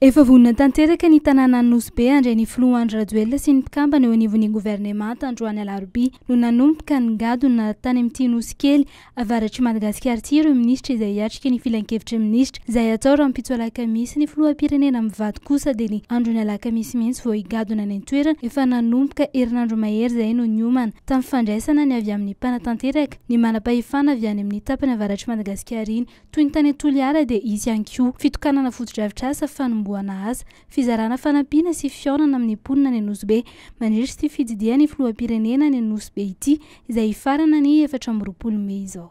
Efa vonona tanteraka ny tanànan'i Nosy Be handray ny filoha Andry Rajoelina sy ny mpikambana eo anivon'ny governemanta androany alarobia no nanomboka ny ngadona tany amin'ity Nosy kely avaratr'i Madagasikara ity ireo minisitra izay hiatrika ny filankevitry minisitra izay hatao rahampitso alakamisy ny filoham-pirenena mivady kosa dia ny andron'ny alakamisy mihitsy vao higadona any an-toerana efa nanomboka herinandro mahery izay no niomana tamin'ny fandraisana ny avy amin'ny mpanatanteraka ny manam-pahefana avy any amin'ny tapany avaratr'i Madagasikara iny Toy ny tany Toliara dia hisy ihany koa fitokanana fotodrafitrasa, fanombohana asa, fizarana fanampiana sy fihaonana amin'ny mponina any Anosibe. Mandritra ity fitsidihan'ny filoham-pirenena any Anosibe ity izay hifarana ny efatra amby roapolo mey izao.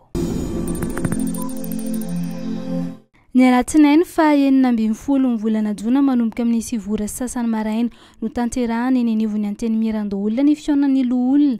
Ny alatsinainy faha enina ambin'ny folo ny volana jona manomboka amin'ny sivy ora sy sasany maraina no tanterahana eny anivon'ny Antenimierandoholona ny fihaonan'ny loholona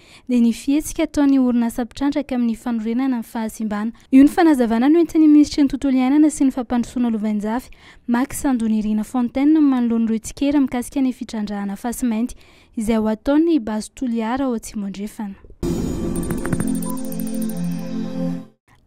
dia ny fihetsika ataon'ny orinasa mpitrandraka amin'ny fanorenana ny fahasimbana. Io ny fanazavana noentin'ny minisitry ny Tontolo iainana sy ny fampandrosoana lovainjafy, Max Andonirina Fontaine manoloana ireo tsikera mikasika ny fitrandrahana fasimainty izay ho ataon'ny Base Toliara ao Atsimo Andrefana.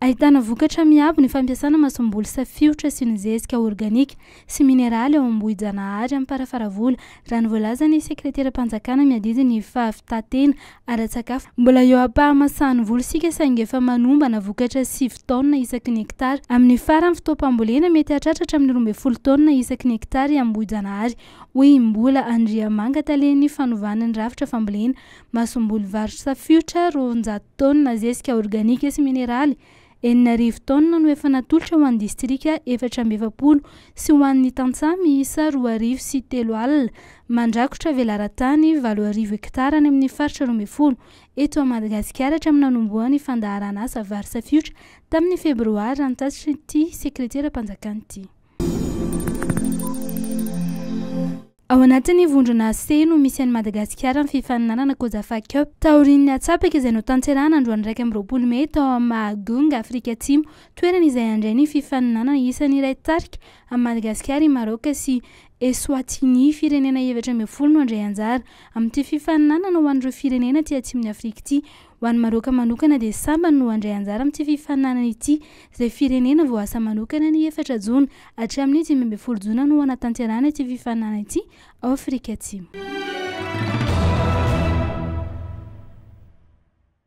Ahitana vokatra miabo ny fampiasana masomboly safiotra sy ny zezika organika sy mineraly ao Ambohijanahary Amparafaravola, raha ny voalazan'ny sekreteram-panjakana miadidy ny fahavitan-tena ara-tsakafo. Mbola eo am-pahamasahan'ny voly isika saingy efa manombana vokatra sivy taonina isaky ny hektara. Amin'ny faran'ny fotoam-pambolena, mety hahatratra hatramin'ny roa ambin'ny folo taonina isaky ny hektara i Ambohijanahary, hoy i Mbola Andriamanga, talen'ny fanovana ny rafitra fambolena. Masomboly Varotra Fiotra roanjato taonina zezika organika sy mineraly enina arivo taonina no efa natolotra ho an'ny distrika efatra amby efapolo sy ho an'ny tantsaha miisa roa arivo sy telo alina mandrakotra velaran-tany valo arivo hektara any amin'ny faritra roa ambin'ny folo eto Madagasikara hatramin'ny nanombohan'ny fandaharan'asa Varotra Fiotra tamin'ny febroary, raha ny tatitry ity sekreteram-panjakan'ity. Ao anatin'ny vondrona C no misy an'i Madagasikara amin'ny fifaninanana Cosafa Cup, taorian'ny hatsapaka izay notanterahana androany iraika amby roapolo mey tao amin'ny Mahajong, Afrika Atsimo, toerana izay handray ny fifaninanana isan'ny iray tarika amin'i Madagasikara i Maroc sy Eswatini. Firenena efatra ambin'ny folo no handray anjara amin'ity fifaninanana ho an'ireo firenena aty Atsimon'i Afrika ity. Ho an'i Maroc manokana dia sambany no handray anjara amin'ity fifaninanana ity, izay firenena voaasa manokana ny efatra jona. Hatramin'ny dimy ambin'ny folo jona no hanatanterahana ity fifaninanana ity ao Afrika Atsimo.